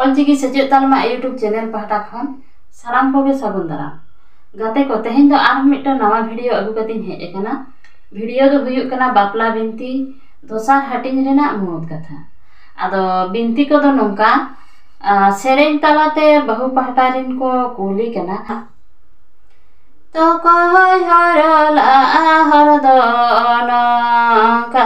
ᱚᱞᱪᱤᱠᱤ ᱥᱮᱪᱮᱫ ᱛᱟᱞᱢᱟ YouTube channel ᱯᱟᱦᱴᱟ ᱠᱷᱚᱱ ᱥᱟᱱᱟᱢ ᱠᱚᱜᱮ ᱥᱟᱹᱜᱩᱱ ᱫᱟᱨᱟᱢ ᱜᱟᱛᱮ ᱠᱚ ᱛᱮᱦᱮᱧ ᱫᱚ ᱟᱨᱦᱚᱸ ᱢᱤᱫᱴᱟᱝ ᱱᱟᱣᱟ ᱵᱷᱤᱰᱤᱭᱳ ᱟᱹᱜᱩ ᱠᱟᱛᱮᱧ ᱦᱮᱡ ᱟᱠᱟᱱᱟ ᱵᱷᱤᱰᱤᱭᱳ ᱫᱚ ᱦᱩᱭᱩᱜ ᱠᱟᱱᱟ ᱵᱟᱯᱞᱟ ᱵᱤᱱᱛᱤ ᱫᱚᱥᱟᱨ ᱦᱟᱹᱴᱤᱧ ᱨᱮᱱᱟᱜ ᱢᱩᱬᱩᱛ ᱠᱟᱛᱷᱟ ᱟᱫᱚ ᱵᱤᱱᱛᱤ ᱠᱚᱫᱚ ᱱᱚᱝᱠᱟ ᱥᱮᱨᱮᱧ ᱛᱟᱞᱟᱛᱮ ᱵᱟᱹᱦᱩ ᱯᱟᱦᱴᱟ ᱨᱮᱱ ᱠᱚ ᱠᱩᱞᱤ ᱠᱟᱱᱟ ᱛᱚᱠᱚᱭ ᱦᱚᱨᱚᱞᱟᱜᱼᱟ ᱦᱚᱨ ᱫᱚ ᱱᱚᱝᱠᱟ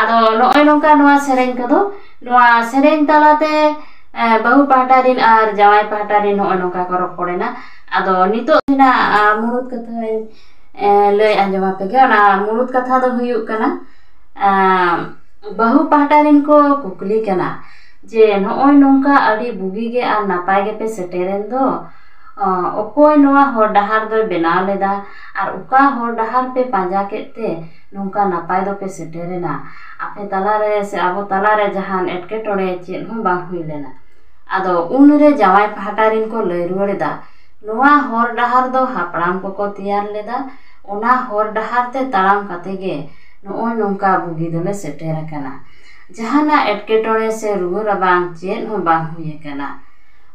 ᱟᱫᱚ ᱱᱚᱜᱼᱚᱭ ᱱᱚᱝᱠᱟ ᱱᱚᱣᱟ ᱥᱮᱨᱮᱧ ᱠᱚᱫᱚ ᱱᱚᱣᱟ ᱥᱮᱨᱮᱧ ᱛᱟᱞᱟᱛᱮ ᱵᱟᱹᱦᱩ ᱯᱟᱦᱴᱟ ᱨᱮᱱ ᱟᱨ ᱡᱟᱶᱟᱭ ᱯᱟᱦᱴᱟ ᱨᱮᱱ ᱱᱚᱜᱼᱚᱭ ᱱᱚᱝᱠᱟ ᱠᱚ ᱨᱚᱯᱚᱲ ᱮᱱᱟ ᱟᱫᱚ ᱱᱤᱛᱚᱜ ᱨᱮᱱᱟᱜ ᱢᱩᱬᱩᱫ ᱠᱟᱛᱷᱟᱧ ᱞᱟᱹᱭ ᱟᱸᱡᱚᱢ ᱟᱯᱮ ᱜᱮ ᱚᱱᱟ ᱢᱩᱬᱩᱫ ᱠᱟᱛᱷᱟ ᱫᱚ ᱦᱩᱭᱩᱜ ᱠᱟᱱᱟ ᱵᱟᱹᱦᱩ ᱯᱟᱦᱴᱟ ᱨᱮᱱ ᱠᱚ ᱠᱩᱠᱞᱤ ᱠᱟᱱᱟ ᱡᱮ ᱱᱚᱜᱼᱚᱭ ᱱᱚᱝᱠᱟ ᱟᱹᱰᱤ ᱵᱩᱜᱤ ᱜᱮ ᱟᱨ ᱱᱟᱯᱟᱭ ᱜᱮᱯᱮ ᱥᱮᱴᱮᱨᱮᱱ ᱫᱚ ᱚᱠᱚᱭ ᱱᱚᱣᱟ ᱦᱚᱨ ᱰᱟᱦᱟᱨ ᱫᱚᱭ ᱵᱮᱱᱟᱣ ᱞᱮᱫᱟ ᱟᱨ ᱚᱠᱟ ᱦᱚᱨ ᱰᱟᱦᱟᱨ ᱯᱮ ᱯᱟᱸᱡᱟ ᱠᱮᱫ ᱛᱮ ᱱᱚᱝᱠᱟ ᱱᱟᱯᱟᱭ ᱫᱚᱯᱮ ᱥᱮᱴᱮᱨᱮᱱᱟ ᱟᱯᱮ ᱛᱟᱞᱟ ᱨᱮ ᱥᱮ ᱟᱵᱚ ᱛᱟᱞᱟ ᱨᱮ ᱡᱟᱦᱟᱱ ᱮᱴᱠᱮᱴᱚᱬᱮ ᱪᱮᱫ ᱦᱚᱸ ᱵᱟᱝ ᱦᱩᱭ ᱞᱮᱱᱟ ᱟᱫᱚ ᱩᱱ ᱨᱮ ᱡᱟᱶᱟᱭ ᱯᱟᱦᱴᱟ ᱨᱮᱱ ᱠᱚ ᱞᱟᱹᱭ ᱨᱩᱣᱟᱹᱲ ᱮᱫᱟ ᱱᱚᱣᱟ ᱦᱚᱨ ᱰᱟᱦᱟᱨ ᱫᱚ ᱦᱟᱯᱲᱟᱢ ᱠᱚᱠᱚ ᱛᱮᱭᱟᱨ ᱞᱮᱫᱟ ᱚᱱᱟ ᱦᱚᱨ ᱰᱟᱦᱟᱨ ᱛᱮ ᱛᱟᱲᱟᱢ ᱠᱟᱛᱮᱫ ᱜᱮ ᱱᱚᱜᱼᱚᱭ ᱱᱚᱝᱠᱟ ᱵᱩᱜᱤ ᱫᱚᱞᱮ ᱥᱮᱴᱮᱨ ᱟᱠᱟᱱᱟ ᱡᱟᱦᱟᱱᱟᱜ ᱮᱴᱠᱮᱴᱚᱬᱮ ᱥᱮ ᱨᱩᱣᱟᱹ ᱨᱟᱵᱟᱝ ᱪᱮᱫ ᱦᱚᱸ ᱵᱟᱝ ᱦᱩᱭ ᱟᱠᱟᱱᱟ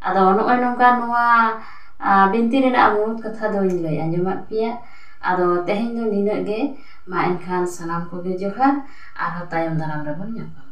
ᱟᱫᱚ ᱱᱚᱜᱼᱚᱭ ᱱᱚᱝᱠᱟ ᱱᱚᱣᱟ ᱵᱤᱱᱛᱤ ᱨᱮᱱᱟᱜ ᱢᱩᱬᱩᱫ ᱠᱟᱛᱷᱟ ᱫᱚᱧ ᱞᱟᱹᱭ ᱟᱸᱡᱚᱢᱟᱫ ᱯᱮᱭᱟ ᱟᱫᱚ ᱛᱮᱦᱮᱧ ᱫᱚ ᱱᱤᱱᱟᱹᱜ ᱜᱮ ᱢᱟ ᱮᱱᱠᱷᱟᱱ ᱥᱟᱱᱟᱢ ᱠᱚᱜᱮ ᱡᱚᱦᱟᱨ ᱟᱨᱦᱚᱸ ᱛᱟᱭᱚᱢ ᱫᱟᱨᱟᱢ ᱨᱮᱵᱚᱱ ᱧᱟᱯᱟᱢᱟ